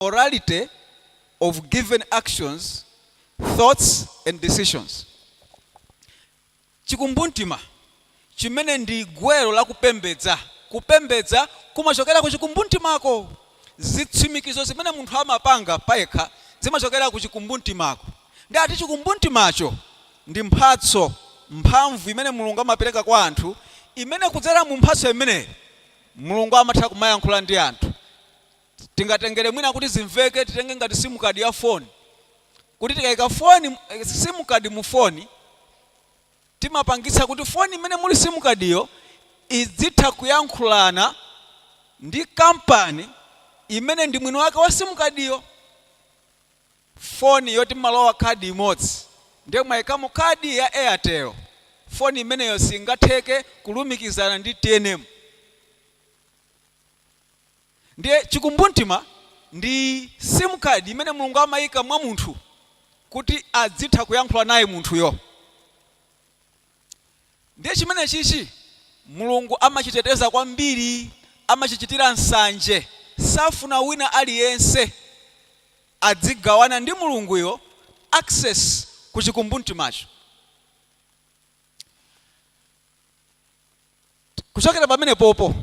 morality of given actions, thoughts and decisions. Chikumbumtima, chimene ndi gwero la kupembedza, kupembedza kumachokera ku chikumbumtimako. Zitsimikizo zimene munthu amapanga payekha zimachokera ku chikumbumtimako. Ndiye ati chikumbumtimacho ndi mphatso, mphamvu imene Mulungu amapereka kwa anthu imene kudzera mu mphatso imeneyo Mulungu amatha kumayankhula ndi anthu. tingatengere mwina kuti zimveke titenge ngati sim card ya phone kuti tikaika phone sim card mu phone timapangitsa kuti phone imene muli sim card yo idzitha kuyankhulana ndi kampani imene ndi mwini wake wa sim card yo phone yoti malowa card imodzi ndiye mwaikamo card ya airtel phone imeneyo singatheke kulumikizana ndi tnm Ndiye chikumbumtima ndi sim card imene Mulungu amaika mwa munthu kuti adzitha kuyankhula naye munthuyo. Ndiye chimenechichi Mulungu amachiteteza kwambiri, amachichitira nsanje. Safuna wina aliyense adzigawana ndi Mulunguyo access ku chikumbumtimacho. kuchokera pamenepopo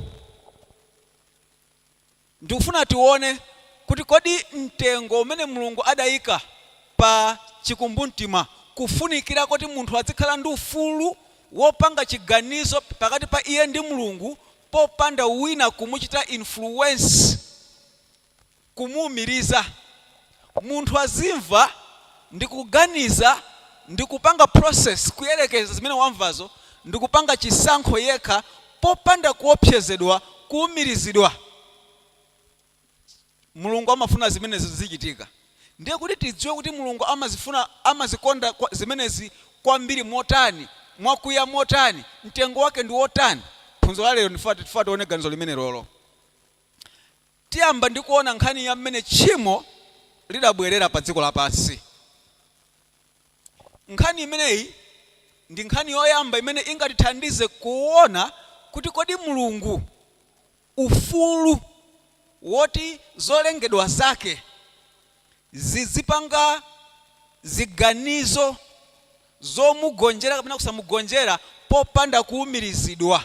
ndikufuna tione kuti kodi mtengo umene Mulungu adaika pa chikumbumtima kufunikira koti munthu adzikhala ndi ufulu wopanga chiganizo pakati pa iye ndi Mulungu popanda wina kumuchita influence kumuumiriza munthu azimva ndikuganiza ndikupanga process kuyerekeza zimene wamvazo ndikupanga chisankho yekha popanda kuopsezedwa, kuumirizidwa. Mulungu amafuna zimenezi zizichitika. Ndiye kuti tidziwe kuti Mulungu amazifuna, amazikonda zimenezi kwambiri motani, mwakuya motani, mtengo wake ndi wotani, phunziro la lero ndifuna tione ganizo limenelolo. Tiyamba ndi kuona nkhani ya mmene tchimo lidabwerera pa dziko lapansi. Nkhani imeneyi ndi nkhani yoyamba imene ingatithandize kuona kuti kodi Mulungu ufulu woti zolengedwa zake zidzipanga ziganizo zomugonjera kapena kusamugonjera popanda kuumirizidwa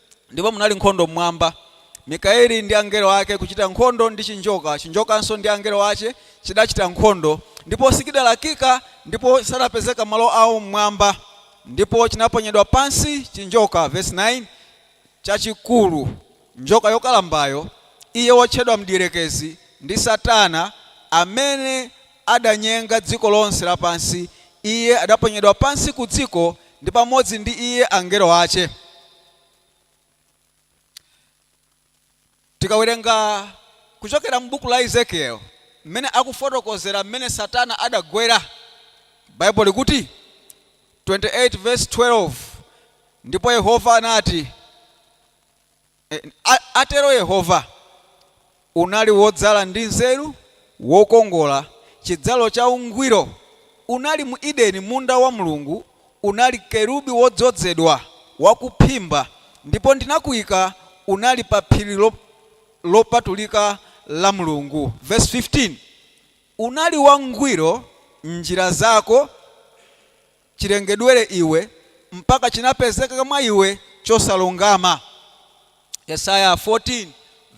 Ndipo munali nkhondo m'Mwamba, Mikaeli ndi angelo ake kucita nkhondo ndi cinjoka, cinjokanso ndi angelo ace cidacita nkhondo, ndipo sichidalakika, ndipo sadapezeka malo ao m'Mwamba, ndipo cinaponyedwa pansi cinjoka, vesi 9, cacikuru, njoka yokalambayo, iye wotchedwa Mdierekezi ndi Satana, amene adanyenga dziko lonse lapansi, iye adaponyedwa pansi kudziko, ndi pamodzi ndi iye angelo ace. Tikawerenga kuchokera mu buku la Ezekiel mmene akufotokozera mmene satana adagwera, Bible likuti 28 vs 12 Ndipo Yehova anati, atero Yehova, unali wodzala ndi nzeru, wokongola, chidzalo cha ungwiro, unali mu Edeni, munda wa Mulungu, unali Kerubi wodzodzedwa, wakuphimba, ndipo ndinakuika, unali pa phiri lopatulika la Mulungu. Vesi 15, Unali wangwiro m'njira zako. chirengedwere iwe, mpaka chinapezeka mwa iwe chosalungama. Yesaya 14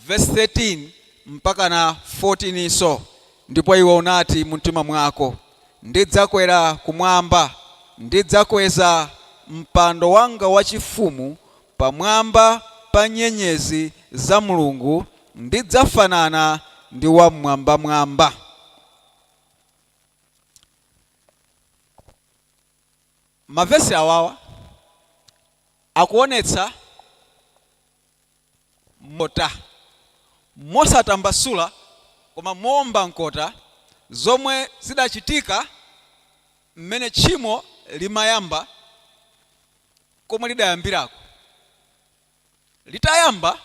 vesi 13 mpaka na 14 nso, Ndipo iwe unati mumtima mwako, Ndidzakwera kumwamba, ndidzakweza mpando wanga wachifumu pamwamba pa nyenyezi za Mulungu, ndidzafanana ndi Wammwambamwamba. mavesi awawa akuonetsa mota mosatambasula koma moomba mkota zomwe zidachitika mmene tchimo limayamba komwe lidayambirako. litayamba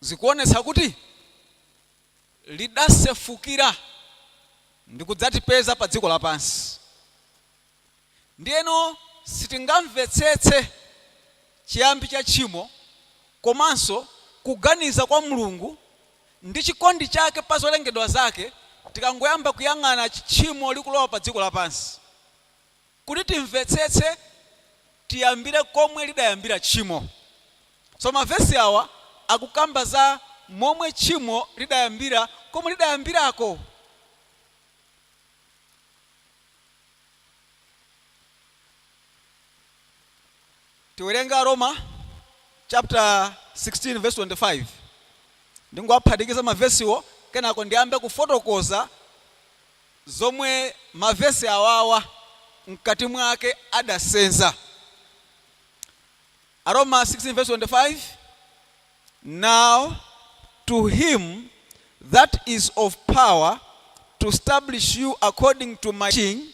zikuonetsa kuti lidasefukira ndikudzatipeza pa dziko lapansi. Ndiyeno sitingamvetsetse chiyambi cha tchimo komanso kuganiza kwa Mulungu ndi chikondi chake pa zolengedwa zake tikangoyamba kuyang'ana tchimo likulowa pa dziko lapansi. Kuti timvetsetse tiyambire komwe lidayambira tchimo. So mavesi awa akukamba za momwe tchimo lidayambira komwe lidayambirako. Tiwerenge Aroma chaputala 16 vesi 25. Ndingowaphatikiza mavesiwa kenako ndiyambe kufotokoza. zomwe mavesi awawa mkati mwake adasenza Aroma 16:25 now to him that is of power to stablish you according to my teaching,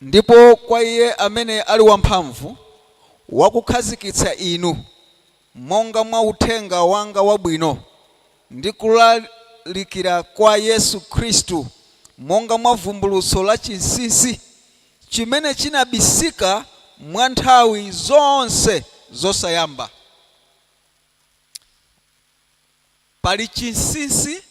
Ndipo kwa iye amene ali wamphamvu wakukhazikitsa inu monga mwa uthenga wanga wabwino, ndi kulalikira kwa Yesu Khristu, monga mwa vumbulutso la chinsinsi, chimene chinabisika mwa nthawi zonse zosayamba, Pali chinsinsi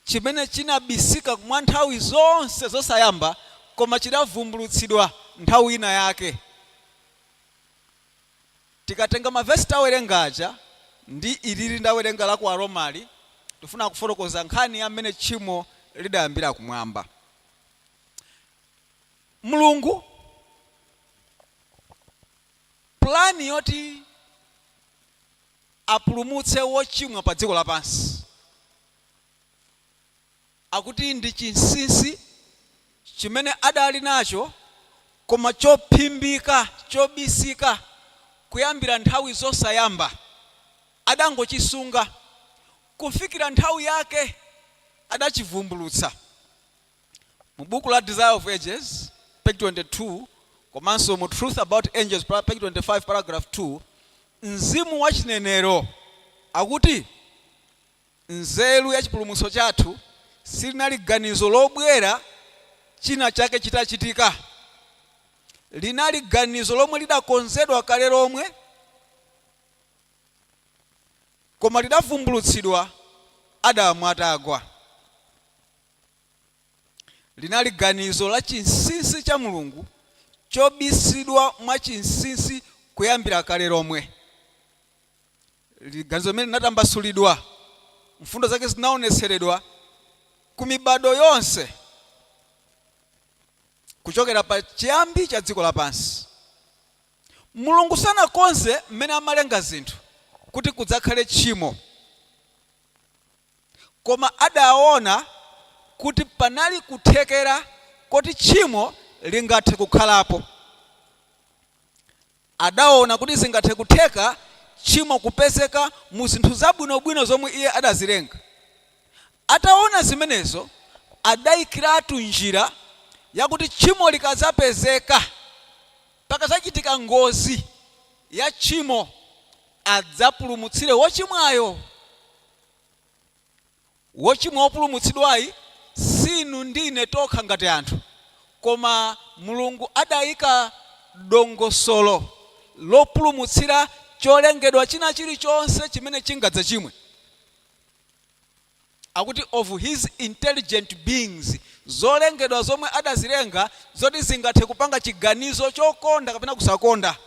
chimene chinabisika mwa nthawi zonse zosayamba koma chidavumbulutsidwa nthawi ina yake. Tikatenga ma vesi tawerenga aja ndi ilili ndawerenga la ku Aromali, tifuna kufotokoza nkhani ya mmene tchimo lidayambira kumwamba. Mulungu plan yoti. apulumutse wochimwa pa dziko lapansi. Akuti ndi chinsinsi chimene adali nacho koma chophimbika, chobisika kuyambira nthawi zosayamba. Adangochisunga kufikira nthawi yake adachivumbulutsa. Mu buku la Desire of Ages, page 22, komanso mu Truth About Angels, page 25, paragraph 2, mzimu wa chinenero akuti, Nzeru ya chipulumutso chathu silinali ganizo lobwera china chake chitachitika. Linali ganizo lomwe lidakonzedwa kale lomwe koma lidavumbulutsidwa Adamu atagwa. Linali ganizo la chinsinsi cha Mulungu chobisidwa mwa chinsinsi kuyambira kale lomwe. Liri ganizo limene linatambasulidwa, mfundo zake zinaonetseredwa, ku mibadwo yonse kuchokera pa chiyambi cha dziko lapansi. Mulungu sanakonze m'mene amalenga zinthu kuti kudzakhale tchimo. koma adaona kuti panali kuthekera koti tchimo lingathe kukhalapo. Adaona kuti zingathe kutheka tchimo kupezeka mu zinthu zabwinobwino zomwe iye adazilenga. Ataona zimenezo, adaikiratu njira yakuti tchimo likadzapezeka, pakadzachitika ngozi ya tchimo, adzapulumutsire wochimwayo. Wochimwa wopulumutsidwayi si inu ndi ine tokha ngati anthu, koma Mulungu adaika dongosolo lopulumutsira cholengedwa china chilichonse chimene chingadzachimwe. Akuti of His intelligent beings. Zolengedwa zomwe adazilenga zoti zingathe kupanga chiganizo chokonda kapena kusakonda,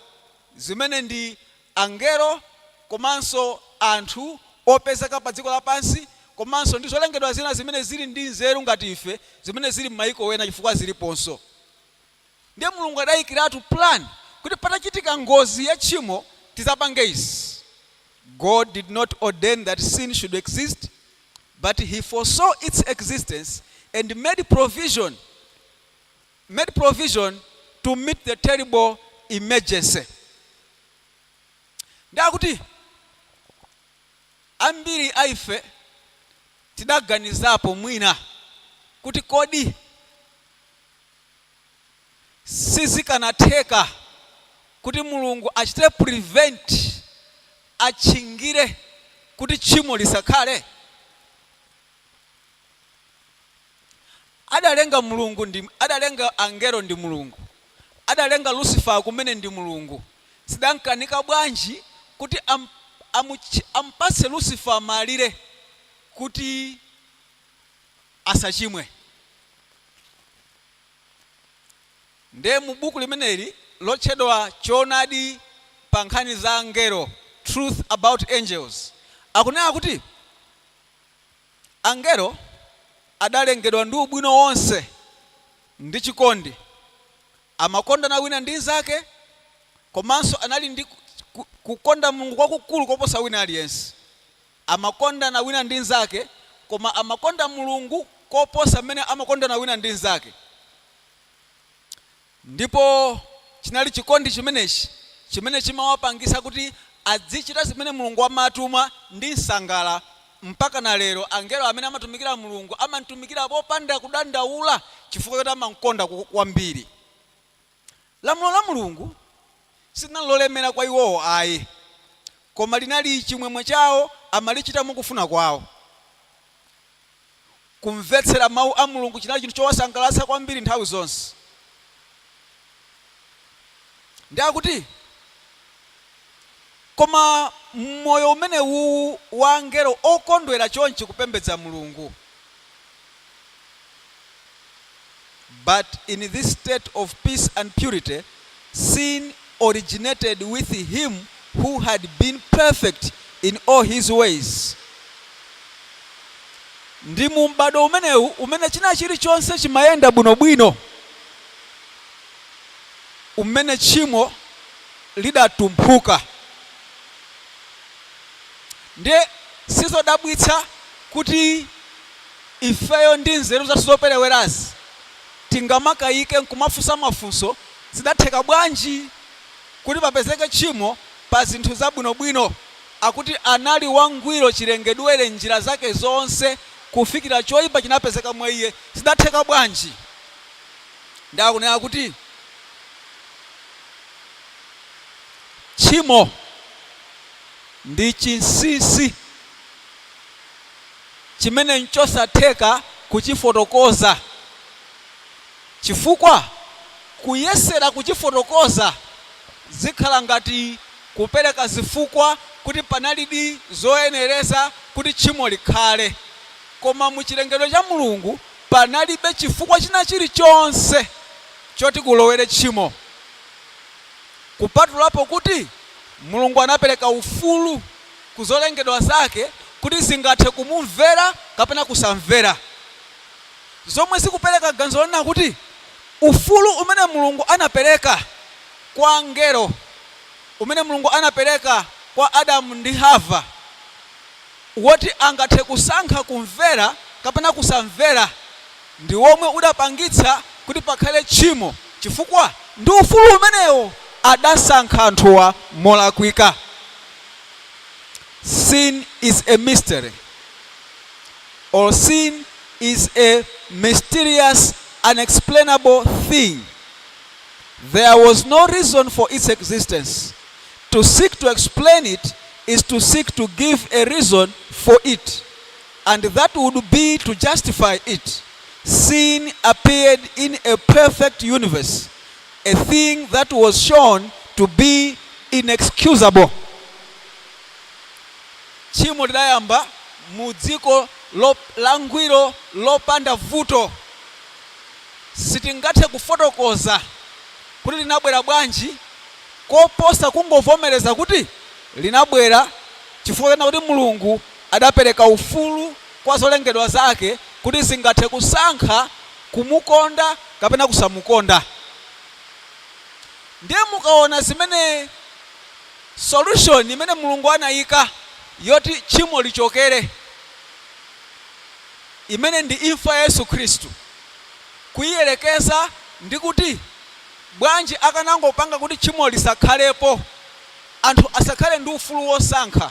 zimene ndi angelo komanso anthu opezeka padziko lapansi komanso ndi zolengedwa zina zimene zili ndi nzeru ngati ife zimene zili mmayiko ena chifukwa ziliponso. Ndiye Mulungu adayikiratu plan kuti patachitika ngozi ya tchimo tidzapange izi. God did not ordain that sin should exist but He foresaw its existence and made provision made provision to meet the terrible emergency nde akuti ambiri a ife tidaganizapo mwina kuti kodi sizikanatheka kuti mulungu achite prevent atchingire kuti tchimo lisakhale Adalenga Mulungu ndi adalenga angelo ndi Mulungu, adalenga Lucifer kumene ndi Mulungu, zidamkanika bwanji kuti am, amutch, ampatse Lucifer malire kuti asachimwe? Nde mu buku limeneli lotchedwa Choonadi pa nkhani za angelo, Truth about Angels, akunena kuti. Angelo adalengedwa ndi ubwino wonse ndi chikondi. Amakondana wina ndi mnzake komanso anali ndi kukonda Mulungu kwakukulu koposa wina aliyense. Amakondana wina ndi mnzake koma amakonda Mulungu koposa mmene amakondana wina ndi mnzake. Ndipo chinali chikondi chimenechi chimene chimawapangitsa kuti adzichita zimene Mulungu amatuma ndi msangala. Mpakana lero angelo amene amatumikira Mulungu amamtumikira popanda kudandaula chifukwa choti amamkonda kwambiri. Lamulo la Mulungu. silinali lolemera kwa iwowo ayi, koma linali chimwemwe chawo, amalichita mwa kufuna kwawo. Kumvetsera Mawu a Mulungu chinali chinthu chowasangalatsa kwambiri nthawi zonse. Nde akuti, Koma m'moyo umenewuwu wa angelo okondwera chonchi kupembedza Mulungu, But in this state of peace and purity, sin originated with him who had been perfect in all his ways. Ndi mu m'bado umenewu umene china chilichonse chimayenda bwinobwino, umene tchimo lidatumphuka. Ndiye sizodabwitsa kuti Ifeyo ndi nzeru zathu zoperewerazi tingamakayike n'kumafunsa mafunso, Zidatheka bwanji kuti papezeke tchimo pa zinthu zabwinobwino? Akuti anali wangwiro chilengedwere m'njira zake zonse kufikira choipa chinapezeka mwa iye. Zidatheka bwanji? Ndi akunena kuti tchimo ndi chinsinsi. chimene n'chosatheka kuchifotokoza, chifukwa kuyesera kuchifotokoza zikhala ngati kupereka zifukwa kuti panalidi zoyenereza kuti tchimo likhale. Koma mu chilengedwe cha Mulungu, panalibe chifukwa china chilichonse choti kulowere tchimo, kupatulapo kuti Mulungu anapereka ufulu. ku zolengedwa zake kuti zingathe kumumvera kapena kusamvera, zomwe zikupereka ganizo lonena kuti ufulu umene Mulungu anapereka kwa angelo, umene Mulungu anapereka kwa Adamu ndi Hava woti angathe kusankha kumvera kapena kusamvera. ndi womwe udapangitsa kuti pakhale tchimo chifukwa ndi ufulu umenewo adasankha anthuwa molakwika. Sin is a mystery or sin is a mysterious unexplainable thing. There was no reason for its existence. To seek to explain it is to seek to give a reason for it. and that would be to justify it, sin appeared in a perfect universe, a thing that was shown to be inexcusable. Tchimo lidayamba mu dziko lo- langwiro lopanda vuto. Sitingathe kufotokoza kuti linabwera bwanji koposa kungovomereza kuti linabwera chifukwa chonena kuti Mulungu adapereka ufulu kwa zolengedwa zake kuti zingathe kusankha kumukonda kapena kusamukonda ndiye mukaona zimene solution imene Mulungu anaika yoti tchimo lichokere imene ndi imfa ya Yesu Khristu kuiyerekeza ndi kuti bwanji akanangopanga kuti tchimo lisakhalepo anthu asakhale ndi ufulu wosankha.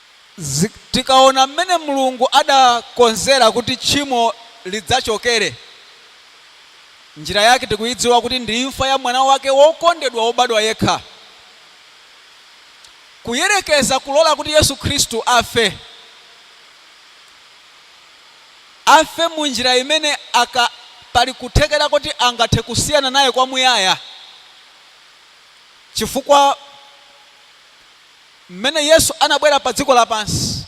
Tikaona mmene Mulungu adakonzera kuti tchimo lidzachokere, njira yake tikuidziwa kuti ndi imfa ya Mwana wake wokondedwa wobadwa yekha. Kuyerekeza kulola kuti Yesu Khristu afe, afe mu njira imene aka, pali kuthekera kuti angathe kusiyana naye kwamuyaya chifukwa. Mmene Yesu anabwera padziko lapansi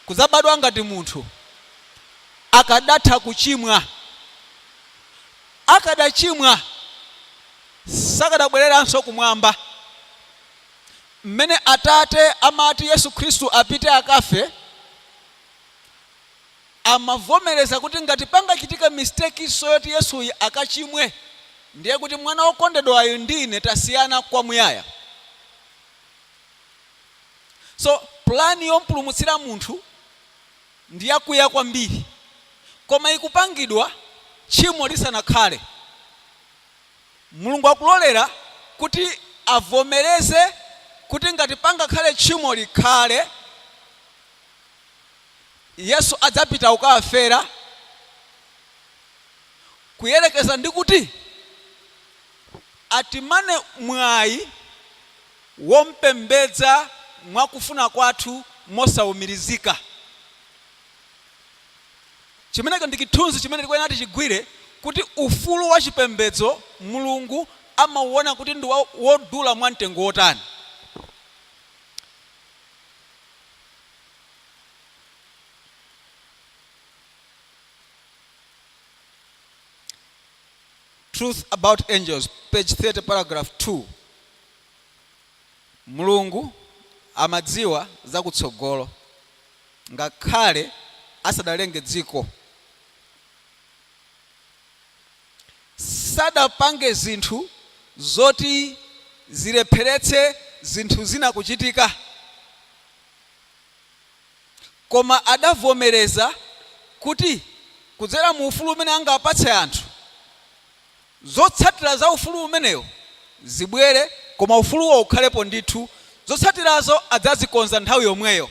kudzabadwa ngati munthu, akadatha kuchimwa? Akadachimwa sakadabwereranso kumwamba. Mmene Atate amati Yesu Khristu apite akafe, amavomereza kuti ngati pangachitike mistake so yoti Yesuyi akachimwe, ndiye kuti mwana wokondedwayu ndi ine tasiyana kwa muyaya. So plan yompulumutsira munthu ndi yakuya kwambiri, koma ikupangidwa tchimo lisanakhale. Mulungu akulolera kuti avomereze kuti ngati pangakhale tchimo likhale. Yesu adzapita kukawafera, kuyerekeza ndi kuti atimane mwayi wompembedza mwa kufuna kwathu mosaumirizika. Chimenecho ndi chithunzi chimene tikuyenera tichigwire kuti ufulu wa chipembedzo Mulungu amauona kuti ndi wodula mwa mtengo wotani. Truth About Angels, page 30, paragraph 2, Mulungu amadziwa za kutsogolo ngakhale asadalenge dziko. Sadapange zinthu zoti zilepheretse zinthu zina kuchitika. Koma adavomereza kuti kudzera mu ufulu umene angawapatse anthu, zotsatira za ufulu umenewu zibwere koma ufuluwo ukhalepo ndithu, zotsatirazo adzazikonza nthawi yomweyo.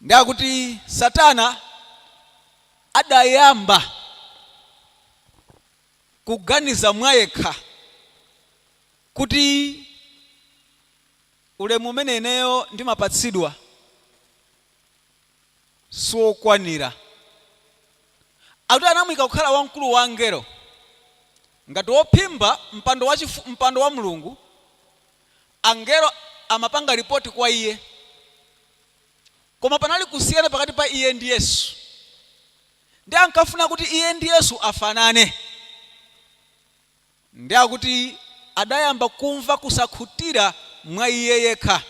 Ndiye akuti Satana adayamba kuganiza mwayekha kuti ulemu umene ineyo ndimapatsidwa siwokwanira. Akuti anamuika kukhala wamkulu wa angelo, ngati wophimba mpando wachifu, mpando wa Mulungu, angelo amapanga report kwa iye. Koma panali kusiyana pakati pa iye ndi Yesu. Ndiye ankafuna kuti iye ndi Yesu afanane. Ndiye akuti adayamba kumva kusakhutira mwa iye yekha,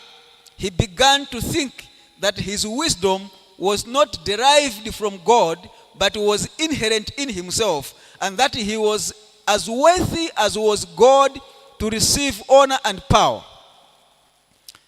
He began to think that his wisdom was not derived from God but was inherent in himself, and that he was as worthy as was God to receive honor and power.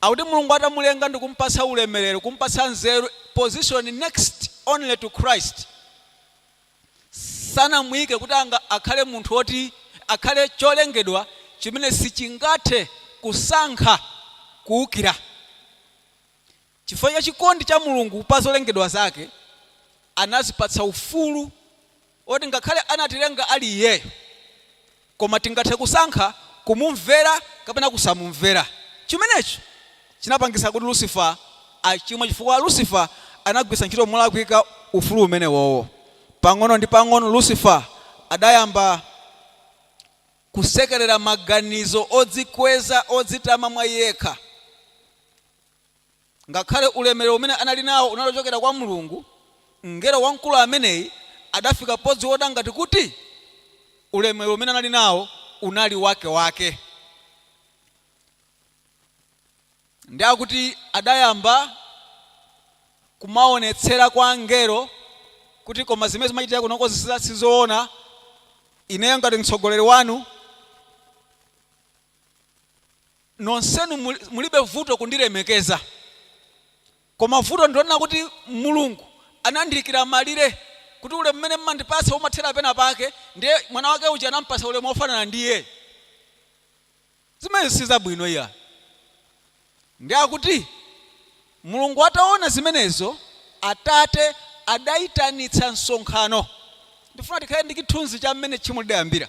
Akuti Mulungu atamulenga ndikumupatsa ulemelero, kumupatsa nzeru, position next only to Christ, sanamuike kuti akhale munthu oti akhale cholengedwa chimene sichingathe kusankha kuukira. Chifukwa cha chikondi cha Mulungu pa zolengedwa zake, anazipatsa ufulu oti ngakhale anatilenga ali Iyeyo, koma tingathe kusankha kumumvera kapena kusamumvera. Chimenechi chinapangitsa kuti Lucifer achimwe chifukwa Lucifer anagwiritsa ntchito molakwika ufulu umenewowo. Pang'ono ndi pang'ono Lucifer adayamba kusekerera maganizo odzikweza, odzitama mwa iye yekha. Ngakhale ulemerero umene anali nawo unali ochokera kwa Mulungu, mngelo wamkulu ameneyi adafika podziona ngati kuti ulemerero umene anali nawo unali wakewake ndiye akuti adayamba kumaonetsera kwa angelo kuti koma zimene zimachitika kunoko sizoona, ineyo ngati mtsogoleri wanu. nonsenu mul- mulibe vuto kundilemekeza koma vuto ndilonena kuti mulungu anandiikira malire kuti ulemu umene mmandipatsa umathera pena pake ndiye mwana wake uja anampatsa ulemu wofanana ndi iyeyo zimenezi sizabwino iyayi ndiye akuti mulungu ataona zimenezo atate adayitanitsa msonkhano ndifuna tikhale ndi chithunzi cha mmene tchimo lidayambira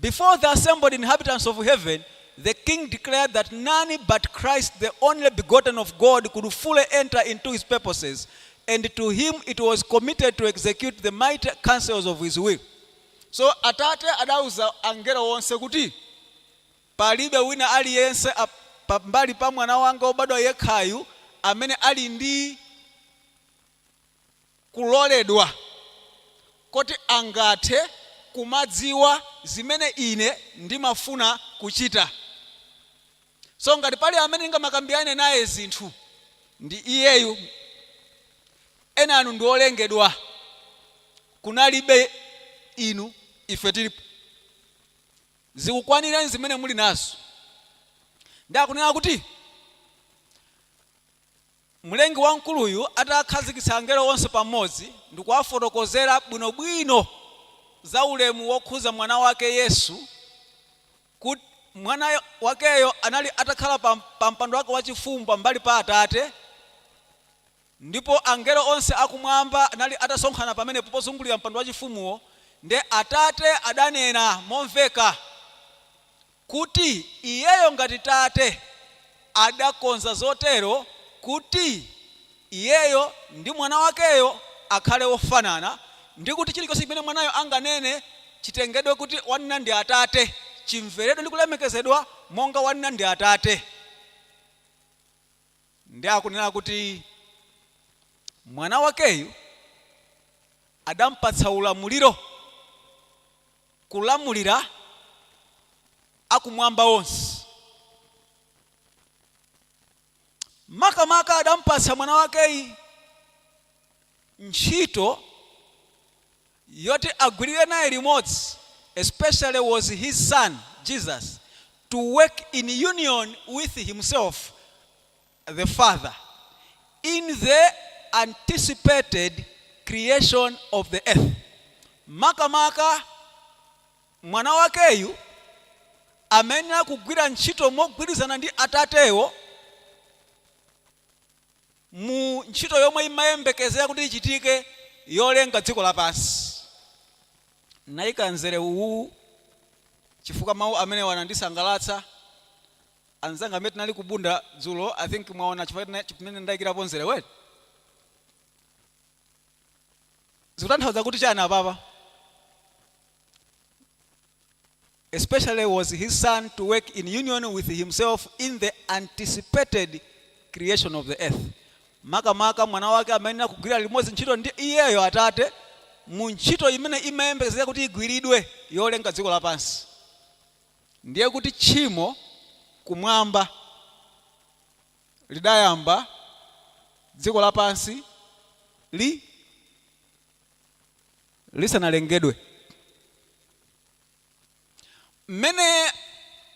Before the assembled inhabitants of heaven, the King declared that none but Christ the only begotten of God could fully enter into His purposes, and to Him it was committed to execute the mighty counsels of His will. So Atate adauza angelo onse kuti, Palibe wina aliyense ap- pambali pa Mwana wanga wobadwa yekhayu amene ali ndi kuloledwa koti angathe kumadziwa zimene ine ndimafuna kuchita. So, ngati pali amene ndingamakambirane naye zinthu, ndi iyeyu. Enanu ndi olengedwa. Kunalibe inu, ife tilipo. Zikukwanirani zimene muli nazo. Ndiye akunena kuti. Mlengi Wamkuluyu atakhazikitsa angelo onse pamodzi ndi kuwafotokozera bwinobwino za ulemu wokhudza Mwana wake Yesu, kuti Mwana wakeyo anali atakhala pa pa mpando wake wachifumu pambali pa Atate, ndipo angelo onse a kumwamba anali atasonkhana pamenepo pozungulira mpando wachifumuwo, ndiye Atate adanena momveka kuti Iyeyo ngati Tate adakonza zotero kuti Iyeyo ndi Mwana wakeyo akhale ofanana ndi kuti chilichonse chimene Mwanayo anganene chitengedwe kuti wanena ndi Atate, chimveredwe ndi kulemekezedwa monga wanena ndi Atate. Ndiye akunena kuti Mwana wakeyu adampatsa ulamuliro kulamulira akumwamba onse. Makamaka adampatsa Mwana wakeyu ntchito yoti agwirire naye limodzi especially was his son, Jesus, to work in union with himself the Father, in the anticipated creation of the earth, makamaka Mwana wakeyu amayenera kugwira ntchito mogwirizana ndi Atatewo mu ntchito yomwe imayembekezera kuti ichitike yolenga dziko lapansi. Ndinayika mzere uwu chifukwa mawu amenewa anandisangalatsa Anzanga amene tinali ku Bunda dzulo I think mwaona chifukwa chimene ndaikirapo mzerewu eti? Zikutanthauza kuti chani apapa? Especially was his son to work in union with himself in the anticipated creation of the earth. Makamaka mwana wake amayenera kugwira limodzi ntchito ndi iyeyo atate mu ntchito imene imayembekezeka kuti igwiridwe yolenga dziko lapansi. Ndiye kuti tchimo Kumwamba lidayamba, dziko lapansi li lisanalengedwe. Mmene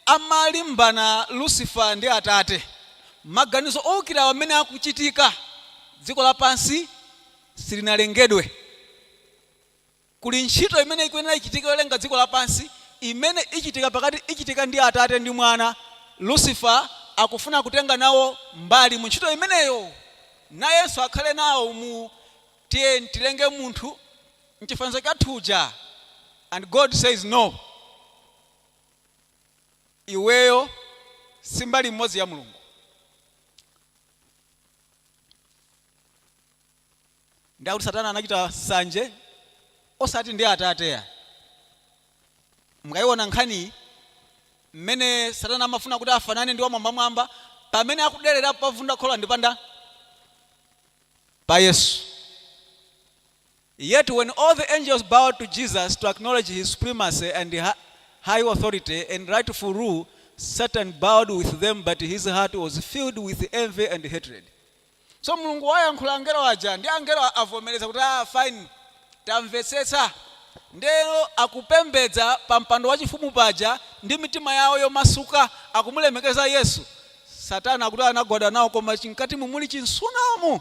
amalimbana Lucifer ndi Atate, maganizo owukirawa mmene akuchitika dziko lapansi silinalengedwe. Kuli ntchito imene ikuyenera ichitike yolenga dziko lapansi imene ichitika pakati ichitika ndi Atate ndi Mwana. Lucifer akufuna kutenga nawo mbali mu ntchito imeneyo. Nayenso akhale nawo mu tiye tilenge munthu m'chifanizo chathu uja and God says no. Iweyo si mbali imodzi ya Mulungu. Ndiye akuti satana anachita sanje osati ndi atate ayi. Mukaiona nkhaniyi mmene satana amafuna kuti afanane ndi wamwambamwamba pamene akuderera povunda khola ndi pa ndani? Pa Yesu. Yet when all the angels bowed to Jesus to acknowledge his supremacy and high authority and rightful rule, Satan bowed with them but his heart was filled with envy and hatred. So Mulungu wayankhula angelo aja ndi angelo avomereza kuti ah fine tamvetsetsa ndeno akupembedza pa mpando wachifumu paja ndi mitima yawo yomasuka akumulemekeza Yesu satana akuti anagwada nawo koma chimkatimu muli chimsunamu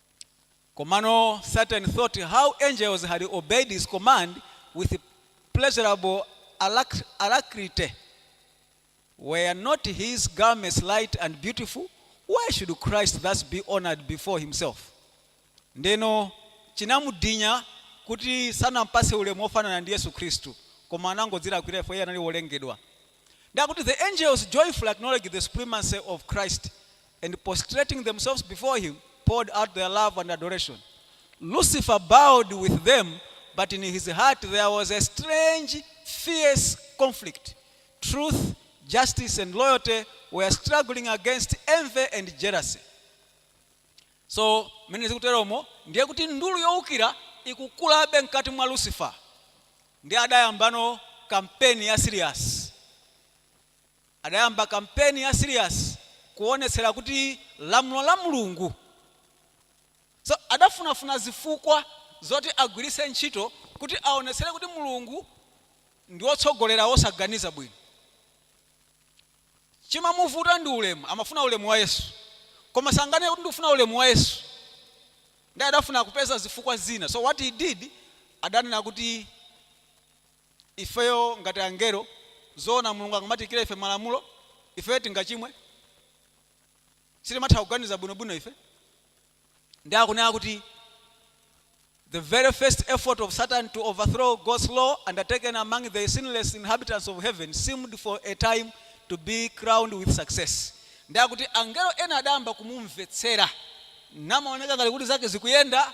Komano Satan thought how angels had obeyed his command with pleasurable alacrity, Were not his garments light and beautiful? Why should Christ thus be honored before himself? Ndeno chinamunyinya kuti sanampase ulemu ofanana ndi Yesu Khristu koma anangodzilakwira if iye anali wolengedwa. Nde akuti the angels joyfully acknowledge the supremacy of Christ and prostrating themselves before him, poured out their love and adoration. Lucifer bowed with them, but in his heart there was a strange, fierce conflict. Truth, justice, and loyalty were struggling against envy and jealousy. so mmene zikuteromo ndiye kuti ndulu yowukira ikukulabe mkati mwa lucifer nde adayambano kampeni ya serious Adayamba kampeni ya serious kuonetsera kuti lamulo la Mulungu so adafunafuna zifukwa zoti agwiritse ntchito kuti aonetsere kuti Mulungu ndi wotsogolera wosaganiza bwino. Chimamuvuta ndi ulemu, amafuna ulemu wa Yesu koma sanganene kuti ndikufuna ulemu wa Yesu nde adafuna kupeza zifukwa zina so what he did adanena kuti. ifeyo ngati angelo zoona mulungu angamatiikire ife malamulo ifeyo tingachimwe? sitimatha kuganiza bwinobwino ife nde akunena kuti the very first effort of satan to overthrow god's law undertaken among the sinless inhabitants of heaven seemed for a time to be crowned with success nde akuti angelo ena adayamba kumumvetsera namaoneka ngati kuti zake zikuyenda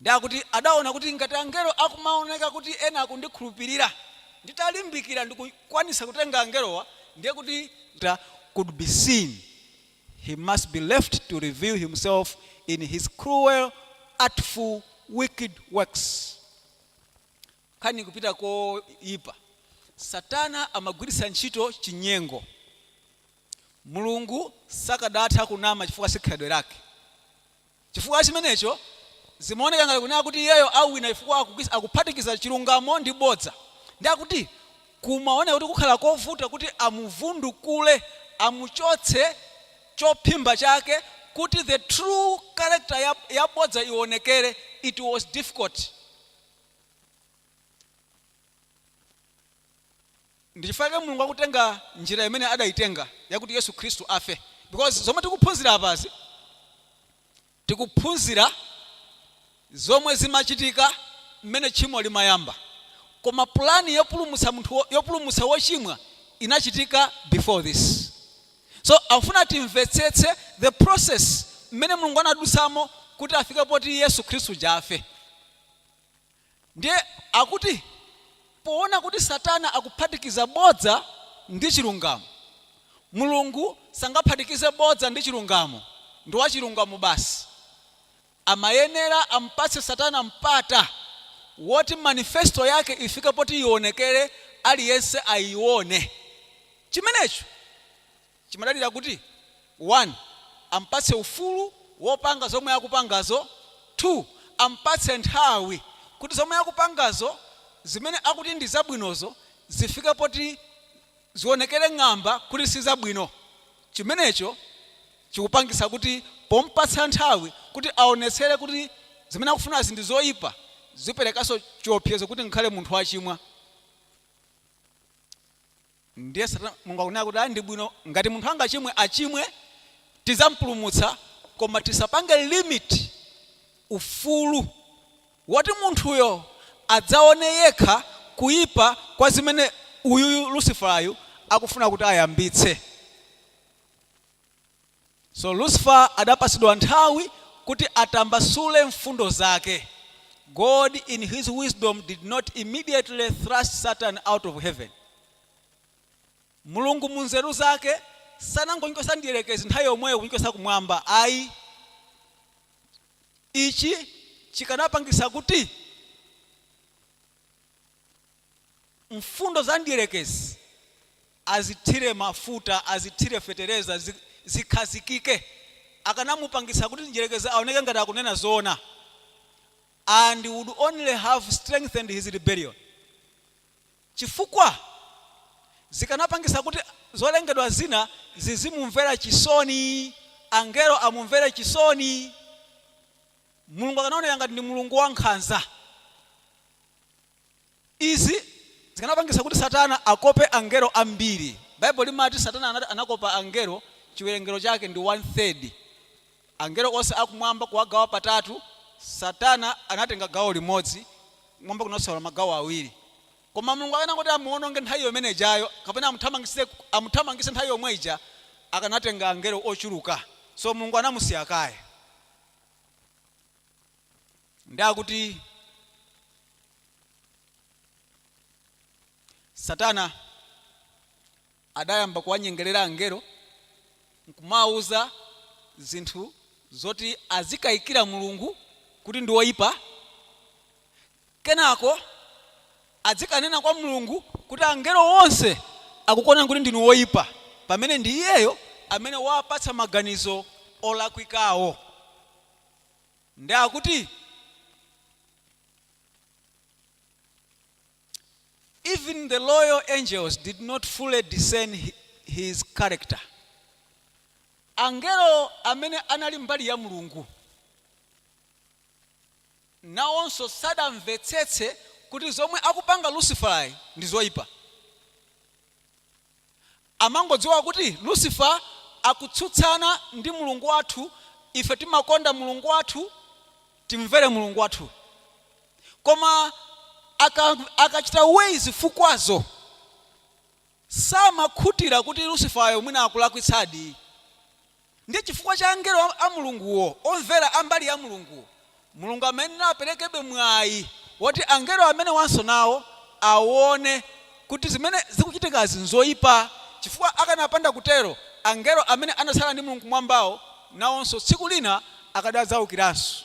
Nde akuti adaona kuti ngati angelo akumaoneka kuti ena akundikhulupirira, nditalimbikira ndikukwanitsa kutenga angelowa, ndiye kuti could be seen, he must be left to reveal himself in his cruel, artful, wicked works. Nkhani ikupita koipa. Satana amagwiritsa ntchito chinyengo. Mulungu sakadatha kunama chifukwa si khalidwe lake. Chifukwa cha chimenecho, zimaoneka ngati kunena kuti iyeyo awina chifukwa akuphatikiza chilungamo ndi bodza ndiye kuti kumaoneka kuti kukhala kovuta kuti amuvundukule, amuchotse chophimba chake kuti the true character ya bodza ionekere, it was difficult. Ndichifukwa chake Mulungu akutenga njira imene adaitenga yakuti Yesu Khristu afe because zomwe tikuphunzira apazi tikuphunzira zomwe zimachitika mmene tchimo limayamba koma plan yopulumutsa wochimwa inachitika before this so akufuna timvetsetse the process mmene Mulungu anadutsamo kuti afike poti Yesu Khristu uja afe. Ndiye akuti poona kuti Satana akuphatikiza bodza ndi chilungamo, Mulungu sangaphatikize bodza ndi chilungamo, ndi wachilungamo basi. Amayenera amupatse Satana mpata woti manifesto yake ifike poti ionekere aliyense aione. Chimenecho Chimadalira kuti, 1 am'patse ufulu wopanga zomwe akupangazo, 2 am'patse nthawi kuti zomwe akupangazo, zimene akuti ndi zabwinozo, zifike poti zionekere ng'amba kuti si zabwino. Chimenecho chikupangitsa kuti pom'patsa nthawi kuti aonetsere kuti zimene akufunazi ndi zoipa, ziperekanso chiopsezo kuti ngakhale munthu wachimwa. Ndiye Mulungu akunena kuti, ayi, ndi bwino ngati munthu angachimwe achimwe, tidzamupulumutsa koma tisapange limit ufulu woti munthuyo adzaone yekha kuipa kwa zimene uyuyu Lusifalayu akufuna kuti ayambitse. So Lucifer adapatsidwa nthawi kuti atambasule mfundo zake, God in his wisdom did not immediately thrust Satan out of heaven. Mulungu mu nzeru zake sanangomchotsa mdierekezi nthawi yomweyo kumchotsa kumwamba ayi. Ichi chikanapangitsa kuti mfundo za mdierekezi azithire mafuta, azithire fetereza, zi, zikhazikike. Akanamupangitsa kuti mdyerekezi aoneke ngati akunena zoona and would only have strengthened his rebellion. Chifukwa zikanapangitsa kuti zolengedwa zina zizimumvera chisoni, angelo amumvere chisoni. Mulungu akanaoneka ngati ndi Mulungu wankhanza. Izi zikanapangitsa kuti Satana akope angelo ambili. Baibulo limati Satana anakopa angelo ciwelengelo cake ndi 1 3rd. Angelo onse a kumwamba kuwagawa patatu, Satana anatenga gawo limodzi, kumwamba kunatsala magawo awili. Koma Mulungu akanangoti amuononge nthawi yomene ijayo kapena amuthamangitse nthawi yomwe ija, akanatenga angelo oculuka. So Mulungu anamusiya kaye. ndi akuti satana adayamba kuwanyengerera angelo nkumawuza zinthu zoti azikayikira mulungu kuti ndi woyipa kenako adzikanena kwa mulungu kuti angelo onse akukuonani kuti ndinu woyipa pamene ndi iyeyo amene wapatsa maganizo olakwikawo nde akuti even the loyal angels did not fully discern hi- his character angelo amene anali mbali ya mulungu nawonso sadamvetsetse kuti zomwe akupanga lusiferayi ndi zoyipa amangodziwa kuti Lucifer akutsutsana ndi Mulungu wathu, ife timakonda Mulungu wathu, timvere Mulungu wathu. Koma aka, akachita weigh zifukwazo, samakhutitsidwa kuti Lucifer'yo mwina akulakwitsadi, Ndiye chifukwa cha angelo a, a Mulunguwo, omvera a mbali ya Mulunguwo, Mulungu amayenera aperekebe mwayi woti angelo amenewanso nawo awone kuti zimene zikuchitikazi n'zoipa, chifukwa akanapanda kutero, angelo amene anatsala ndi Mulungu kumwambawo nawonso tsiku lina akadadzawukiranso.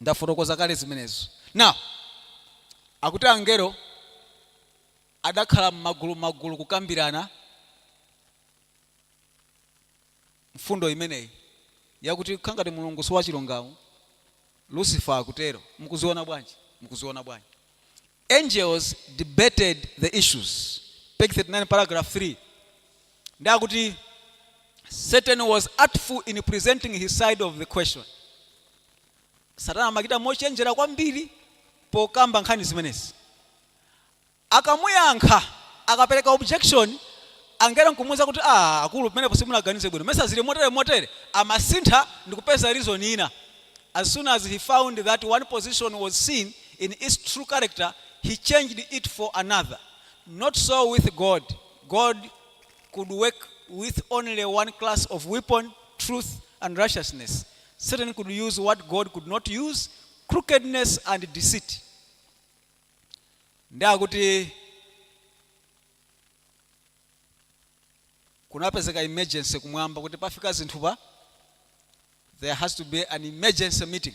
Ndafotokoza kale zimenezo. Now, akuti angelo adakhala m'magulumagulu kukambirana mfundo imeneyi yakuti zikukhala ngati Mulungu si wachilungamo, Lucifer akutero. Mukuziona bwanji? Mukuziona bwanji? Angels debated the issues, page 39, paragraph 3, ndiye akuti Satan was artful in presenting his side of the question. Satana amachita mochenjera kwambiri pokamba nkhani zimenezi. Akamuyankha, akapereka objection, angelo n'kumuuza kuti, Aaa akulu, pamenepo simunaganize bwino. Mesa zili motere motere? Amasintha ndi kupeza reason ina. As soon as he found that one position was seen in its true character, he changed it for another. Not so with God. God could work with only one class of weapon, truth and righteousness. Satan could use what God could not use, crookedness and deceit. Ndi akuti kunapezeka emergency kumwamba kuti pafika zinthupa there has to be an emergency meeting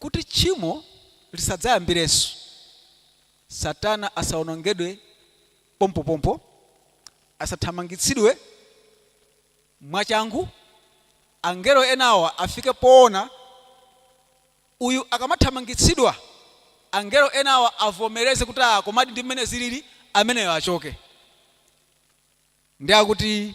Kuti tchimo lisadzayambirenso, Satana asawonongedwe pompopompo, asathamangitsidwe mwachangu, angelo enawa afike poona uyu akamathamangitsidwa, angelo enawa avomereze kuti ah komadi ndi mmene zilili, ameneyo achoke. Ndiye akuti.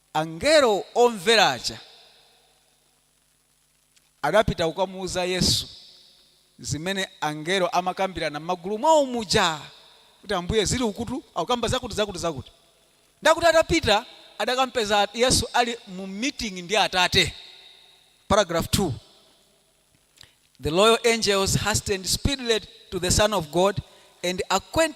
Angelo omvera aja adapita kukamuuza Yesu zimene angelo amakambirana m'magulu mwao muja, kuti, Ambuye, zili ukutu akukamba zakuti zakuti zakuti. Ndiye kuti atapita adakampeza Yesu ali mu meeting ndi Atate. Paragraph 2 The loyal angels hastened speedily to the Son of God and acquaint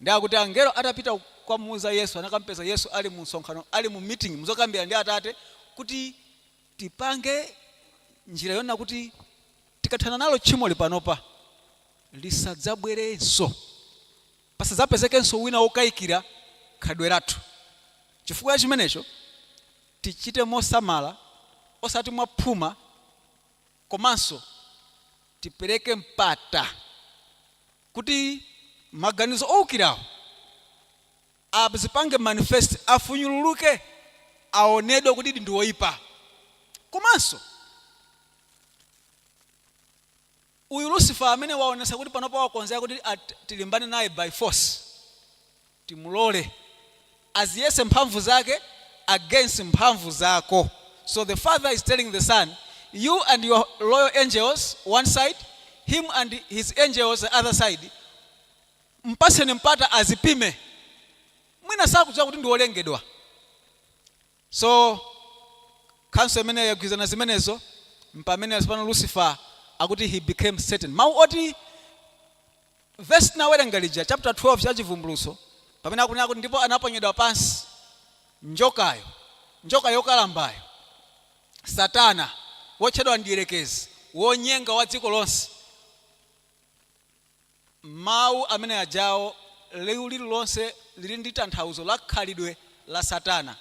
Ndiye akuti angelo atapita kukamuuza Yesu, anakamupeza Yesu ali mu msonkhano, ali mu meeting, mu zokambirana ndi Atate, kuti tipange njira yonena kuti tikathana nalo tchimoli panopa, lisadzabwerenso. Pasadzapezekenso wina wokaikira khalidwe lathu. Chifukwa cha chimenecho, tichite mosamala, osati mwa phuma, komanso tipereke mpata. kuti maganizo oukirawo azipange manifest, afunyululuke, aonedwe kutidi ndi oipa. Komanso uyu Lucifer amene waonetsa kuti panopa wakonzeka kuti tilimbane naye by force, timulole aziyese mphamvu zake against mphamvu zako so the father is telling the son you and your loyal angels one side him and his angels the other side mpaseni mpata azipime mwina sakudziwa kuti ndi wolengedwa so council itagwirizana zimenezo mpamene tsopano lucifer akuti he became satan mawu oti Vesi tinawerenga lija, chapter 12 cha Chivumbulutso, pamene akunena kuti, Ndipo anaponyedwa pansi njokayo, njoka yokalambayo, Satana, wotchedwa Mdyerekezi, wonyenga wa dziko lonse. Mawu amene ajawo, liwu lililonse lili ndi tanthauzo la khalidwe la Satana.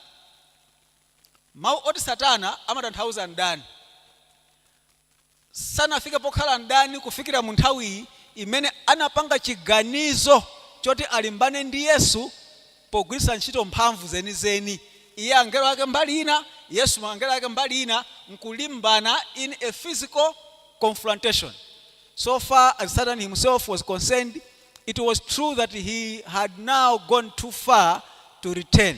Mawu oti Satana amatanthauza mdani. sanafike pokhala mdani kufikira mu nthawiyi imene anapanga chiganizo choti alimbane ndi Yesu pogwiritsa ntchito mphamvu zenizeni, iye angelo ake mbali ina, Yesu angelo ake mbali ina, nkulimbana in a physical confrontation. So far as Satan himself was concerned, it was true that he had now gone too far to return,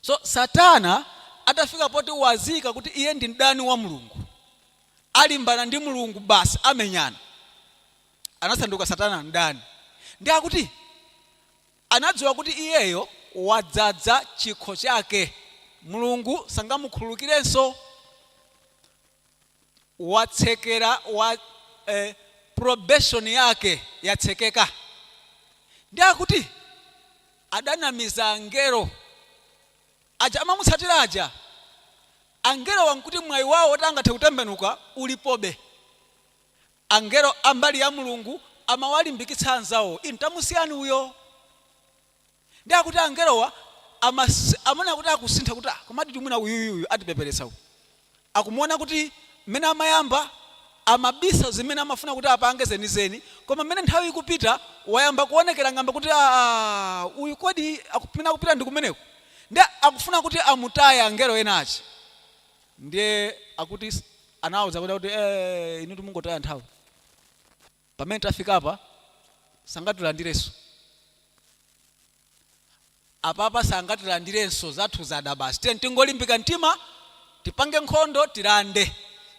So, Satana atafika poti wadziwika kuti iye ndi mdani wa Mulungu, alimbana ndi Mulungu basi amenyana, anasanduka Satana mdani. Ndiye akuti anadziwa kuti iyeyo wadzadza chikho chake, Mulungu sangamukhululukirenso. watsekera wa eh, probation yake yatsekeka ndiye akuti adanamiza angelo aja amamutsatira aja angelo awo nkuti mwayi wawo oti angathe kutembenuka ulipobe angelo ambali ya mulungu amawalimbikitsa anzawo inu tamusiyani uyo Ndiye akuti angelowa amaona kuti akusintha kuti ah, komaditu mwina uyuyuyu atipepeletsa uyu. Akumuona kuti mmene amayamba amabisa zimene amafuna kuti apange zenizeni, koma mmene nthawi ikupita wayamba kuonekera ng'amba kuti aa, uyu kodi kumene akupita ndi kumeneko? Ndiye akufuna kuti amutaye angelo ena aja. Ndiye akuti anawauza kuti ee, inutu mungotaya nthawi. Pamene tafikapa sangatilandirenso. Apapa sangatilandirenso zathu zada basi tiyeni tingolimbika mtima tipange nkhondo tilande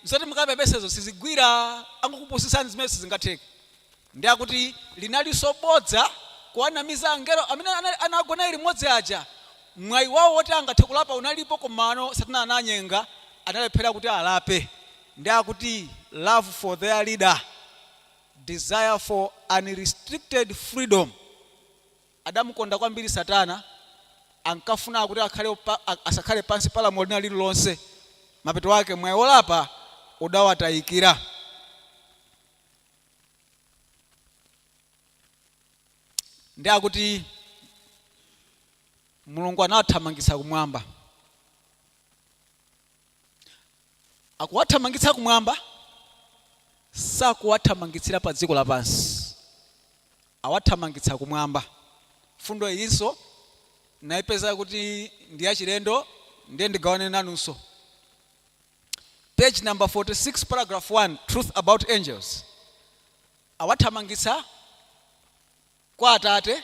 zoti mukapepesezo sizigwira ntchito akungokupusitsani zimene sizingatheke nde akuti linalinso bodza kuwanamiza angelo amene anagwa naye limodzi aja mwayi wawo woti angathe kulapa unalipo komano satana anawanyenga analephera kuti alape nde akuti love for their leader, desire for unrestricted freedom adamukonda kwambiri satana ankafuna kuti akhale asakhale pansi pa lamulo lina lililonse mapeto ake mwayi wolapa udawatayikira nde akuti mulungu anawathamangitsa kumwamba akuwathamangitsa kumwamba sakuwathamangitsira pa dziko lapansi awathamangitsa kumwamba mfundo iyinso ndaipeza kuti ndi yachilendo ndiye ndigawane nanunso page number 46 paragraph 1 truth about angels awathamangitsa kwa atate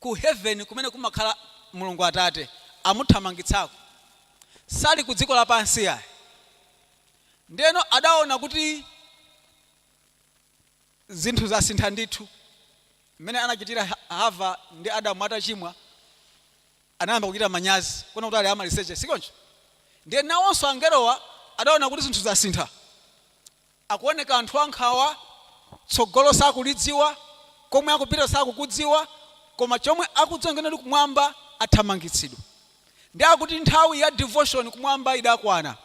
ku heaven kumene kumakhala Mulungu Atate amuthamangitsako. Sali ku dziko lapansi iyayi. Ndiyeno adaona kuti zinthu zasintha ndithu. Mmene anachitira Hava ndi Adamu atachimwa, anayamba kuchita manyazi, kuona kuti ali amaliseche, si choncho? Ndiye nawonso angelowa adaona kuti zinthu zasintha. Akuoneka anthu ankhawa, tsogolo sakulidziwa, komwe akupita sakukudziwa, koma chomwe akudziwa nchoti kumwamba athamangitsidwa. Nde akuti nthawi ya devotion kumwamba idakwana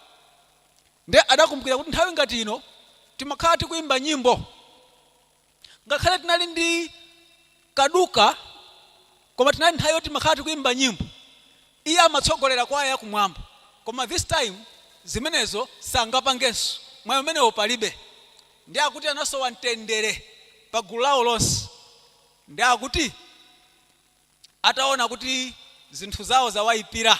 nde adakumbukira kuti nthawi ngati ino timakhala tikuimba nyimbo. ngakhale tinali ndi kaduka koma inali nthawi yoti timakhala tikuimba nyimbo iye amatsogolera kwaya yakumwamba koma this time zimenezo sangapangenso mwayi umenewo palibe nde akuti anasowa mtendere pa gulu lawo lonse nde akuti ataona kuti zinthu zawo zawaipira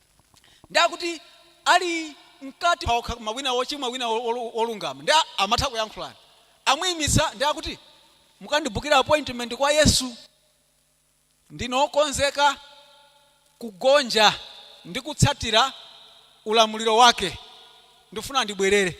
ndi akuti ali mkati okha koma wina wochimwa wina wolungama ndiye amatha kuyankhulana amuyimitsa ndi akuti mukandibukira appointment kwa yesu ndine wokonzeka kugonja ndi kutsatira ulamuliro wake ndifuna ndibwerere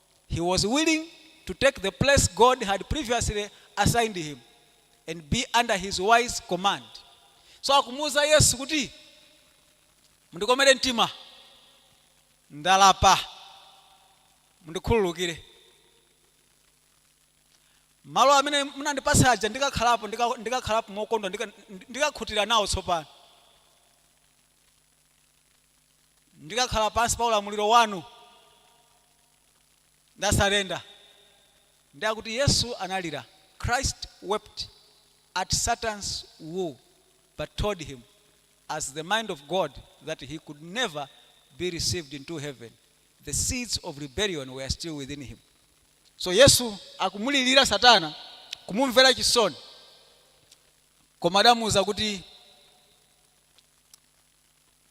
He was willing to take the place God had previously assigned him and be under his wise command. So akumuuza Yesu kuti mundikomere mtima ndalapa mundikhululukire malo amene munandipatsa aja ndikakhalapo ndikakhalapo mokondwa ndikakhutira nawo tsopano Ndikakhala pansi pa ulamuliro wanu, ndasarenda. Ndi akuti Yesu analira Christ wept at Satan's woe but told him as the mind of God that he could never be received into heaven, the seeds of rebellion were still within him. So Yesu akumulilira Satana, kumumvera chisoni, koma adamuuza kuti.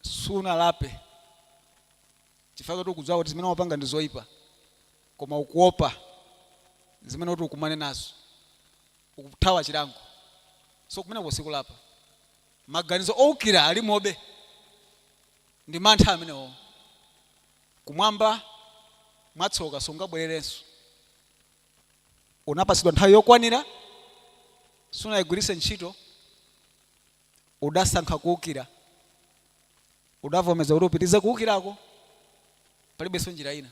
sunalape chifukwa choti ukudziwa kuti zimene wapanga ndi zoyipa koma ukuopa zimene uti ukumane nazo ukuthawa chilango so kumeneko sikulapa maganizo owukira alimobe ndi mantha amenewo kumwamba mwatsoka sungabwererenso unapatsidwa nthawi yokwanira sunayigwiritse ntchito Udasankha kuukira, udavomeza kuti upitirize kuukirako, palibenso njira ina.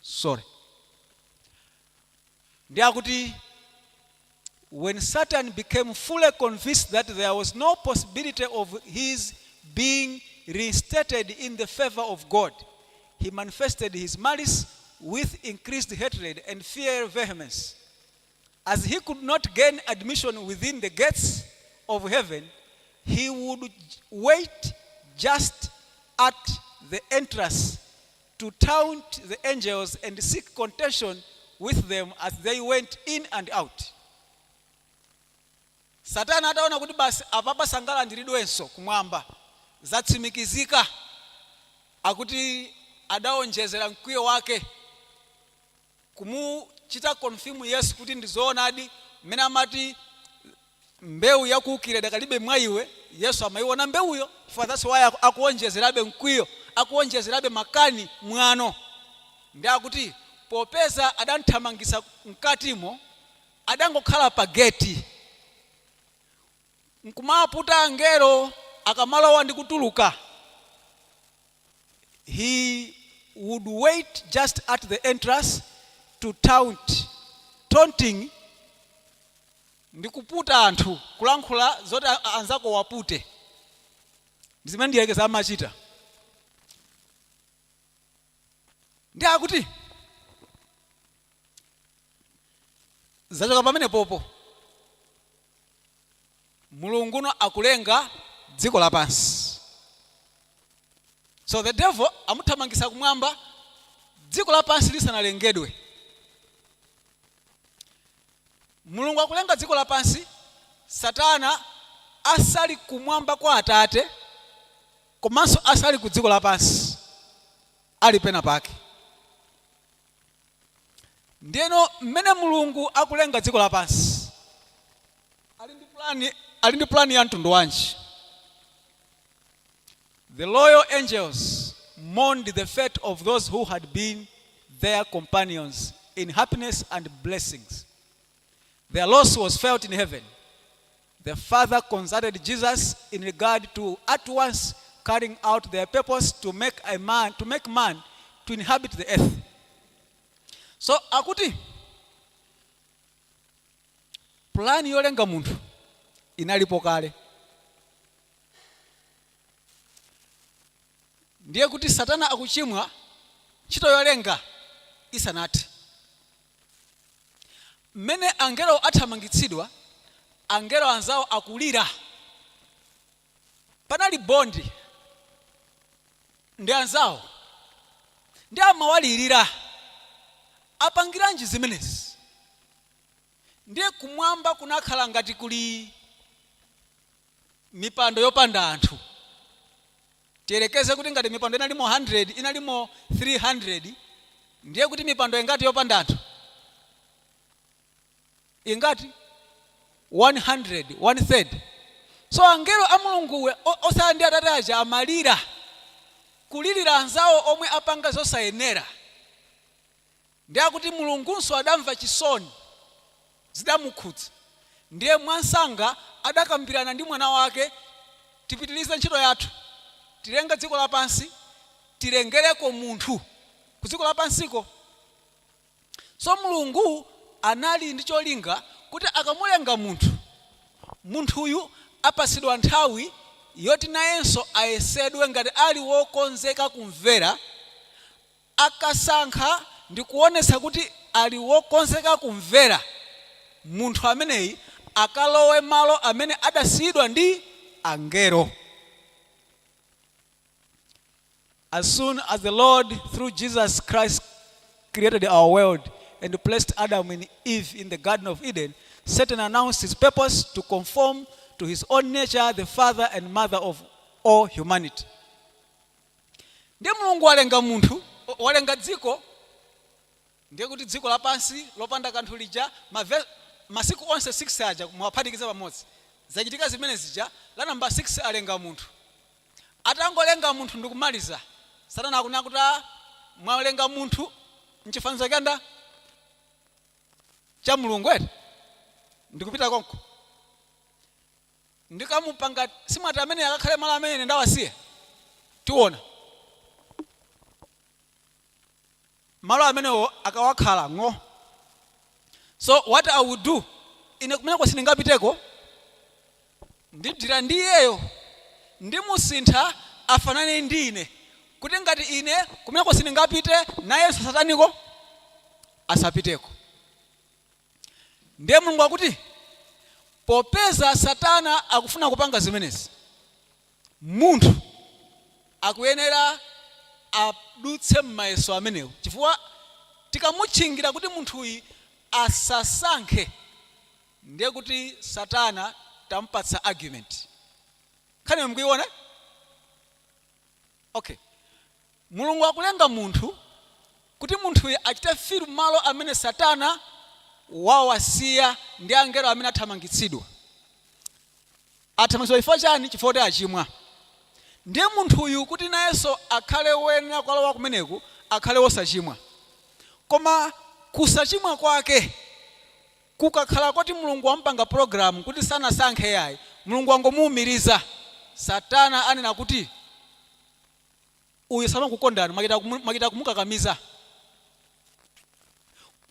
Sorry. Ndi akuti when Satan became fully convinced that there was no possibility of his being reinstated in the favor of God, he manifested his malice with increased hatred and fiery vehemence. as he could not gain admission within the gates of heaven, he would wait just at the entrance to taunt the angels and seek contention with them as they went in and out. Satana ataona kuti basi apapa sangalandiridwenso kumwamba zatsimikizika akuti adaonjezera mkwiyo wake kumuchita confirm Yesu kuti ndi zoonadi mmene amati mbewu ya kuukira idakalibe mwa iwe, Yesu amaiona mbewuyo that's why akuonjezerabe mkwiyo, akuonjezerabe makani, mwano. Ndi akuti popeza adamthamangitsa mkatimo, adangokhala pa geti. nkumaputa angelo akamalowa ndi kutuluka, he would wait just at the entrance to taunt, taunting ndi kuputa anthu, kulankhula zoti anzako uwapute. Ndi zimene mdierekezi amachita. Ndiye akuti zachoka pamenepopo. mulunguno akulenga dziko lapansi so the devil amuthamangisa kumwamba dziko lapansi lisanalengedwe mulungu akulenga dziko lapansi satana asali kumwamba kwa atate komanso asali ku dziko lapansi ali pena pake ndiyeno mmene mulungu akulenga dziko lapansi ali ndi pulani ali ndi pulani ya mtundu wanji the loyal angels mourned the fate of those who had been their companions in happiness and blessings Their loss was felt in heaven. The Father consulted Jesus in regard to at once carrying out their purpose to make a man to make man to inhabit the earth. So akuti pulani yolenga munthu inalipo kale. Ndiye kuti Satana akuchimwa ntchito yolenga isanati. Mmene angelo athamangitsidwa, angelo anzawo akulira. Panali bond ndi anzawo ndiye amawalirira. Apangiranji zimenezi? Ndiye kumwamba kunakhala ngati kuli mipando yopanda anthu. Tiyerekeze kuti ngati mipando inalimo 100, inalimo 300, ndiye kuti mipando ingati yopanda anthu? Ingati? 100, one third. So angelo a Mulungu osaya ndi Atate aja amalira, kulilira anzawo omwe apanga zosayenera. Ndiye akuti Mulungunso adamva chisoni, zidamukhudza. Ndiye mwansanga adakambirana ndi mwana wake, Tipitilize ntchito yathu, tilenge dziko lapansi, tilengereko munthu kudziko lapansiko. So Mulungu anali ndi cholinga kuti akamulenga munthu, munthuyu apatsidwa nthawi yoti nayenso ayesedwe ngati ali wokonzeka kumvera, Akasankha ndi kuonetsa kuti ali wokonzeka kumvera, munthu ameneyi akalowe malo amene adasiyidwa ndi angero. As soon as the Lord through Jesus Christ created our world and placed Adam and Eve in the Garden of Eden, Satan announced his purpose to conform to his own nature the father and mother of all humanity. Ndiye Mulungu walenga munthu, walenga dziko, ndiye kuti dziko lapansi lopanda kanthu lija, mavesi, masiku onse 6 aja muwaphatikize pamodzi, zachitika zimene zija, la nambala 6 alenga munthu. Atangolenga munthu ndi kumaliza, Satana akunena kuti, Ah, mwalenga munthu m'chifanizo cha ndani? Cha Mulungu, eti? Ndikupita konko. ndikamupanga, si mwati amene akakhale malo amene ine ndawasiya tiona malo amenewo akawakhala ng'o so what i will do ine kumeneko sindingapiteko ndidila ndi iyeyo ndimusintha afanane ndi ine kuti ngati ine kumeneko sindingapite nayenso sataniko asapiteko Ndiye Mulungu akuti, Popeza Satana akufuna kupanga zimenezi, munthu akuyenera adutse m'mayeso amenewo chifukwa tikamutchingira kuti munthuyi asasankhe, ndiye kuti Satana tamupatsa argument. Nkhaniyo mukuiona? Ok. Mulungu akulenga munthu kuti munthuyi achite fill malo amene Satana wawasiya ndi angelo amene athamangitsidwa. Athamangitsidwa chifukwa chani? Chifukwa choti achimwa. Ndiye munthuyu kuti nayenso akhale woyenera kukalowa kumeneko akhale wosachimwa. Koma kusachimwa kwake Kukakhala koti Mulungu wamupanga program kuti sanasankhe yayi, Mulungu wangomuumiriza. Satana anena kuti uyu samakukondani mwachita kumukakamiza.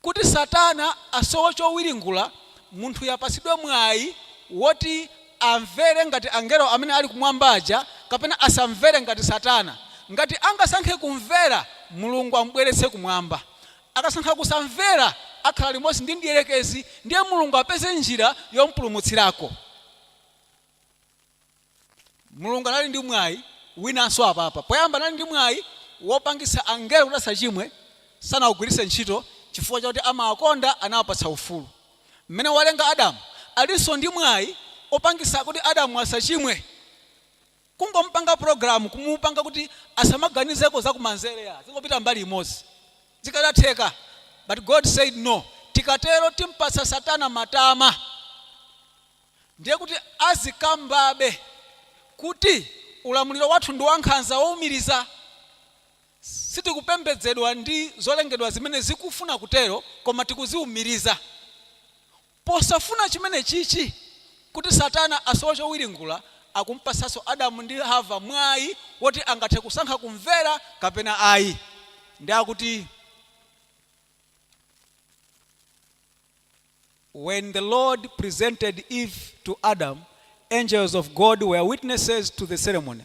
Kuti satana asowe chowiringula, munthuyu apatsidwe mwayi woti amvere ngati angelo amene ali kumwamba aja kapena asamvere ngati satana. Ngati angasankhe kumvera, Mulungu amubweretse kumwamba. Akasankha kusamvera, akhala limodzi ndi mdierekezi, ndiye Mulungu apeze njira yomupulumutsirako. Mulungu anali ndi mwayi winanso apapa. Poyamba anali ndi mwayi wopangitsa angelo kuti asachimwe, sanaugwiritse ntchito chifukwa chakuti amawakonda, anawapatsa ufulu. Mmene walenga Adamu, alinso ndi mwayi wopangitsa kuti Adamu asachimwe. Kungomupanga program kumupanga kuti asamaganizeko za kumanzere azingopita mbali imodzi zikadatheka but God said no tikatero timpatsa satana matama ndiye kuti azikambabe kuti ulamuliro wathu ndi wankhanza woumiriza. Sitikupembedzedwa ndi zolengedwa zimene zikufuna kutero koma tikuziumiriza Posafuna chimenechichi, kuti Satana asowe chowiringula, akumpatsanso Adamu ndi Hava mwayi woti angathe kusankha kumvera kapena ayi. Ndiye akuti, When the Lord presented Eve to Adam, angels of God were witnesses to the ceremony.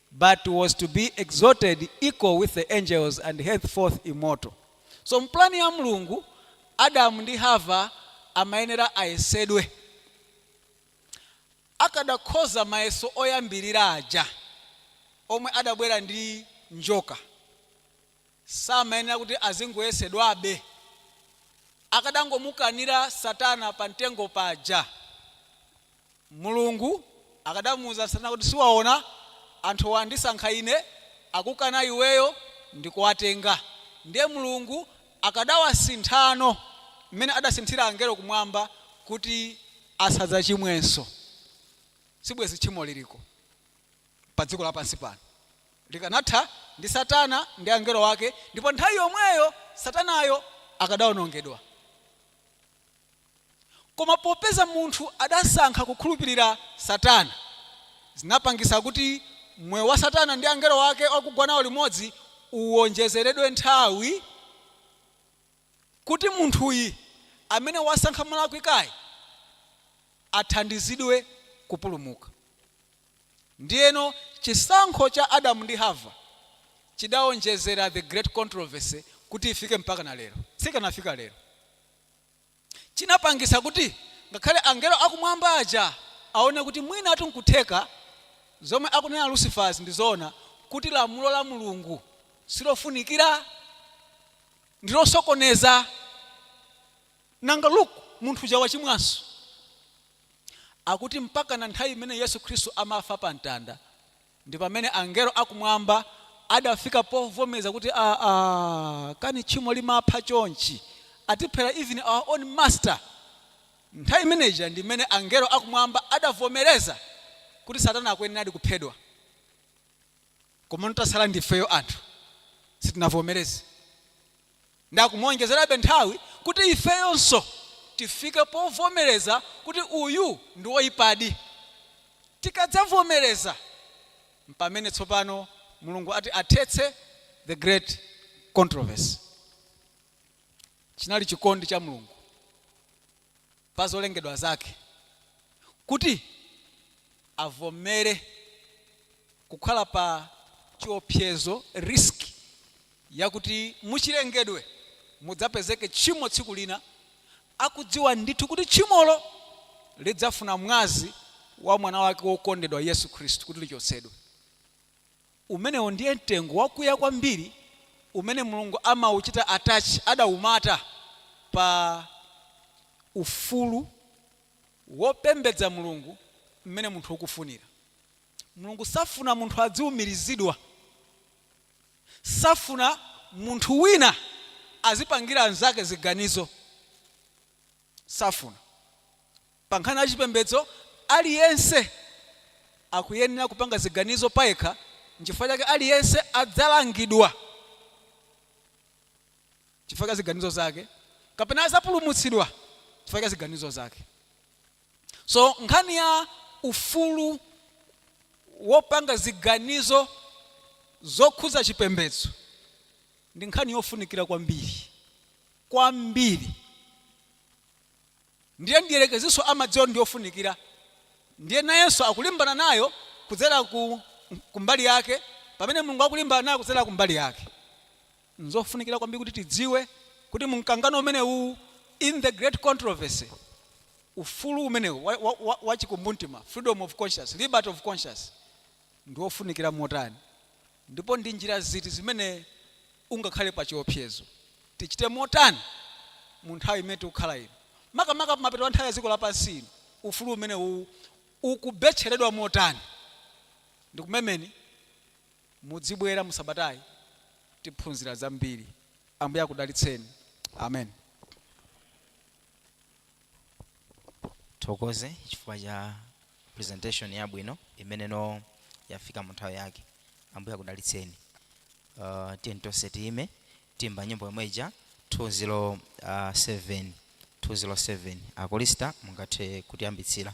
but was to be exalted equal with the angels and henceforth immortal. So mu plan ya Mulungu, Adamu ndi Hava amayenera ayesedwe. Akadakhoza mayeso oyambirira aja omwe adabwera ndi njoka. samayenera kuti azingoyesedwabe? Akadangomukanira Satana pa mtengo paja, Mulungu akadamuuza Satana kuti, Siwaona, anthuwa andisankha ine, akukana iweyo ndikuwatenga. Ndiye Mulungu akadawasinthano mmene adasinthira angelo kumwamba kuti asadzachimwenso. Sibwenzi tchimo liriko. pa dziko lapansi pano. Likanatha ndi Satana ndi angelo ake ndipo nthawi yomweyo Satanayo akadawonongedwa. Koma popeza munthu adasankha kukhulupirira Satana, zinapangitsa kuti moyo wa Satana ndi angelo ake okugwa nawo limodzi uwonjezeredwe nthawi. kuti munthuyi amene wasankha molakwikayi athandizidwe kupulumuka. Ndiyeno, chisankho cha Adamu ndi Hava chidawonjezera The Great Controversy kuti ifike mpakana lero. Siikanafika lero. Chinapangitsa kuti ngakhale angelo akumwamba aja aone kuti mwinatu nkutheka zomwe akunena Lucifer'zi ndi zoona, kuti lamulo la Mulungu silofunikira. ndilosokoneza nanga look munthu uja wachimwanso akuti mpakana nthawi imene yesu khristu amafa pa mtanda ndi pamene angelo akumwamba adafika povomeza kuti aa kani tchimo limapha chonchi atiphera even our own master nthawi imeneja ndi imene angelo akumwamba adavomereza kuti satana akuyeneradi kuphedwa komano tasala ndifeyo anthu sitinavomereze nde akumuonjezerabe nthawi kuti ifeyonso tifike povomereza kuti uyu ndi woipadi. Tikadzavomereza mpamene tsopano Mulungu ati athetse the great controversy. Chinali chikondi cha Mulungu. pa zolengedwa zake kuti avomere kukhala pa chiopsezo, risk, yakuti muchilengedwe mudzapezeke tchimo tsiku lina, akudziwa ndithu kuti tchimolo lidzafuna mwazi wa mwana wake wokondedwa Yesu Khristu kuti lichotsedwe. Umenewo ndiye mtengo wakuya kwambiri umene Mulungu amauchita attach, adaumata, pa ufulu wopembedza Mulungu mmene munthu ukufunira. Mulungu safuna munthu adziumirizidwa, safuna munthu wina azipangira anzake ziganizo, safuna. Pa nkhani ya chipembedzo, aliyense akuyenera kupanga ziganizo payekha, nchifukwa chake aliyense adzalangidwa chifukwa cha ziganizo zake kapena adzapulumutsidwa chifukwa cha ziganizo zake. So nkhani ya ufulu wopanga ziganizo zokhudza chipembedzo ndi nkhani yofunikira kwambiri, kwambiri. Ndiye mdierekezinso amadziwa kuti ndi yofunikira, ndiye nayenso akulimbana nayo kudzera ku ku mbali yake pamene Mulungu akulimbana nayo kudzera ku mbali yake. Nzofunikira kwambiri kuti tidziwe kuti mu mkangano umenewuwu, in the great controversy, ufulu umenewu wa wa wa wa chikumbumtima, freedom of conscience, liberty of conscience, ndi wofunikira motani. Ndipo ndi njira ziti zimene ungakhale pa chiopsezo? Tichite motani mu nthawi imene tikukhala ino? Makamaka pa mapeto a nthawi ya dziko lapansi ino, ufulu umenewu ukubetcheredwa motani? Ndikumemeni mudzibwera mu sabatayi tiphunzira zambiri. Ambuye akudalitseni. Amen. thokoze chifukwa cha presentation yabwino imene no yafika mu nthawi yake ambuye akudalitseni uh, tiyeni tonse tiyime tiimbe nyimbo yomwe ija 207 207 a chorister mungathe kutiyambitsira